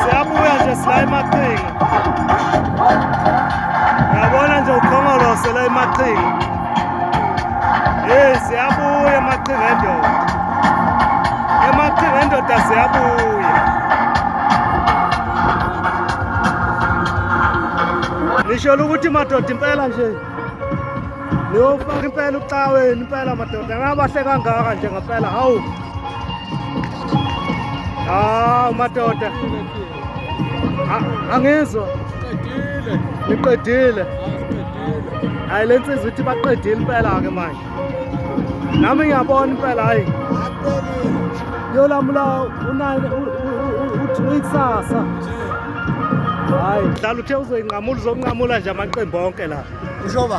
siyabuya nje sila emaqhinga yabona nje ukhongolose la emaqhinga hey siyabuya emaqhinga endoda emaqhinga endoda siyabuya nisholo ukuthi madoda impela nje niyofaka impela ucaweni impela madoda ngabahle kangaka nje ngampela hawu hawu madoda angizwa niqedile hayi le nsizwa ithi baqedile impela-ke manje nami ngiyabona impela hayi yolamula uyikusasa hayi dlala uthe uzoyinqamula uzonqamula nje amaqembu onke la ushoba